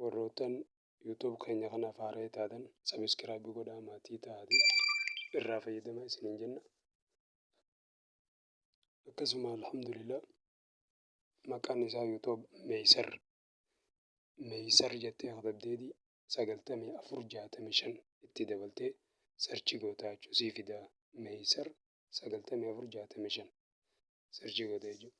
Warroottan YouTube keenya kanaaf haaraya taatan subscribe godhaa maatii ta'aati irraa fayyadama isiniin jenna. Akkasuma alhamdulillah maqaan isaa YouTube Meeysar Meeysar jettee katabdeeti sagaltamii afur jaatamii shan itti dabaltee sarchi gootaa jechuu sii fidaa Meeysar 94 65 sirchi godhe jechuudha.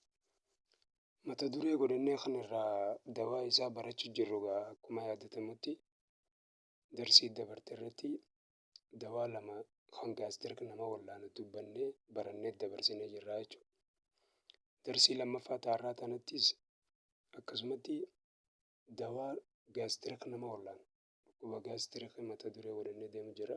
Mata duree godhannee kan irraa dawaa isaa barachu jirru gaa akkuma yaadatamutti darsii dabarte irratti dawaa lama kan gaastirk nama wallaanu dubbannee barannee dabarsinee jirra jechuudha. Darsii lammaffaa taarraa tanattis akkasumatti dawaa gaastirk nama wallaanu dhukkuba gaastirk mata duree godhannee deemu jirra.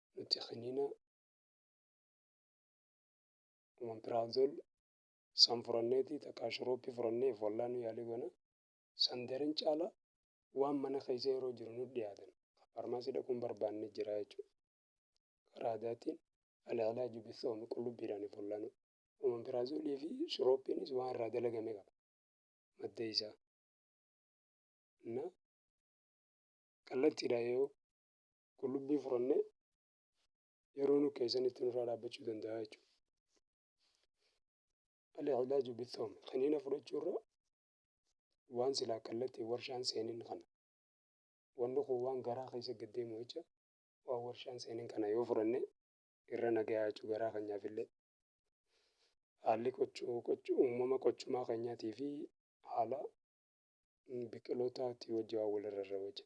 nuti kiniina omeprazole san furanneeti takka shurooppii furannee wallaanu yaalii goona san daran caala waan mana keessa yeroo jiru nu dhiyaatan faarmaasii dhaquun barbaanne jira jechuudha. Karaa aadaatiin alaalaa jubisoomi qullubbiidhaan wallaanu. Omeprazolii fi shurooppiinis waan irraa dalagame qaba madda isaa. Innaa kallattiidhaan yoo qullubbii furannee yeroo nu keessanitti nurraa dhaabbachuu danda'a jechuudha. Al-ilaaju bithoom kaniina fudhachuurra waan silaa kallattiin warshaan seenin kana wanni kun waan garaa keessa gad deemu jecha waan warshaan seenin kana yoo fudhanne irra nagayaa jechuu garaa keenyaafillee haalli qochuu qochuu uumama qochumaa keenyaatii fi haala biqilootaatti wajji waan walirra irra wajja.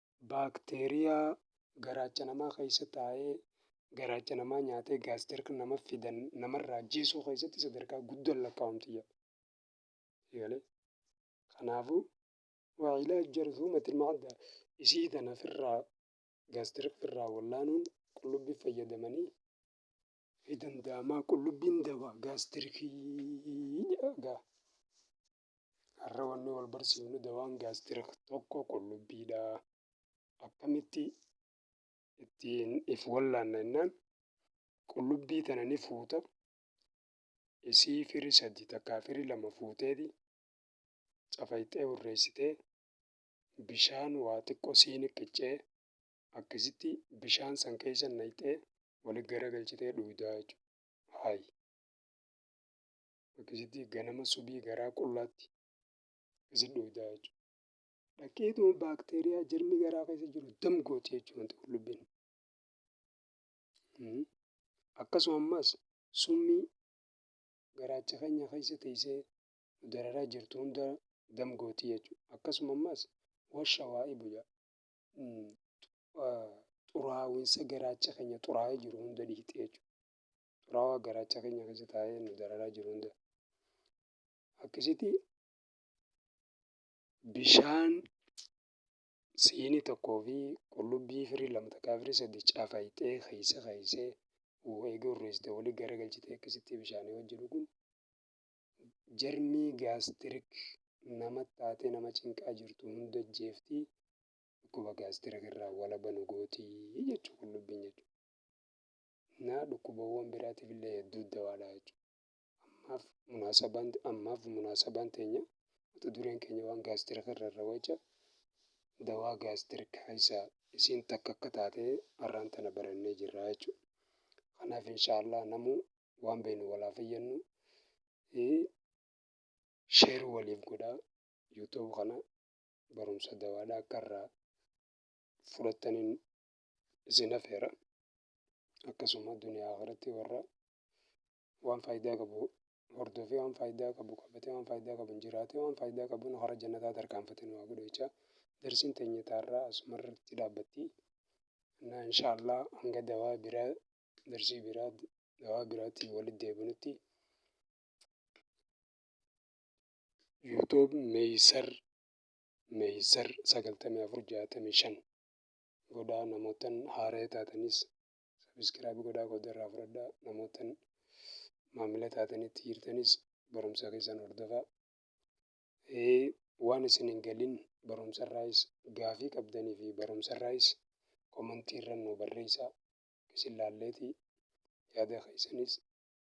baakteeriyaa garaacha namaa keessa taa'ee garaacha namaa nyaatee gaastirk nama fidan namarraa ajjeesuu keessatti sadarkaa guddaan lakkaa'amti jedha. Eegalee. Kanaafuu wacilaaj jarzuumatil macdaa isii tana firraa gaastirk firraa wallaanuun qullubbii fayyadamanii fi danda'amaa qullubbiin dawaa gaastirkii jedha gaa. Har'a wanni wal barsiifnu dawaan gaastirik tokko qullubbiidha. Akkamitti ittiin if wallaanna jennaan qullubbii tana ni fuuta. Isii firi sadi takkaa firi lama fuuteeti cafayxee hurreessitee bishaan waa xiqqoo siini qiccee akkasitti bishaan san keessa naqxee wali garagalchitee dhuydaa jechuudha. Haayi. Akkasitti ganama subii garaa qullaatti akkasi dhuydaa jechuudha. Dhaqeetuma baakteeriyaa jirmi garaa keessa jiru dam gooti jechuudha wanti qullubbiin. Hmm. Akkasuma ammas summii garaacha keenya keessa teessee nu dararaa jirtu hunda dam gooti jechuudha. Akkasuma ammas washa waa ibu jaa. Hmm. Ah, xuraawinsa garaacha keenya xuraa'ee jiru hunda dhiiqxee jechuudha. xuraawaa garaacha keenya keessa taa'ee nu dararaa jiru hunda akkasitti bishaan siinii tokkoo fi qullubbii firii lama takkaa firii sadii cafayxee keessa keessee eegee urreessite walii gara galchitee akkasitti bishaanii wajji dhuguun jarmii gaastirik nama taatee nama cinqaa jirtu hunda jeeftii dhukkuba gaastirik irraa walaba nu gootii jechuu qullubbiin jechuudha. naa dhukkubawwan biraatiif illee hedduu dawaadha jechuudha. Ammaaf munaasabaan ammaaf munaasabaan teenya mata dureen keenya waan gaastirika irra irra waca dawaa gaastirika keessaa isiin takka akka taatee har'aan tana barannee jirra jechuudha. Kanaaf inshaallah namuu waan beeknu walaa fayyadnu sheer waliif godhaa yuutuub kana barumsa dawaadha akka irraa fudhattaniin isin hafeera. Akkasuma duniyaa akhiratti warra waan faayidaa qabu hordofee waan faayidaa qabu qabatee waan faayidaa qabu jiraatee waan faayidaa qabu hara jannataa tarkaanfate nu haa godhu jecha darsiin teenya taarraa asumarratti dhaabbatti. Innaa inshaallah hanga dawaa biraa darsii biraa dawaa biraatiin walitti deebinutti YouTube Meeysar Meeysar sagaltamii afur jaatamii shan godhaa namoottan haaraya taatanis sabiskiraayib godhaa qooda irraa fudhadhaa namoottan maamila taatanitti jirtanis barumsa keessan hordofaa waan isin hin galin barumsa irraayis gaafii qabdanii fi barumsa irraayis komantii irra nu barreessaa isin laalleeti yaada keessanis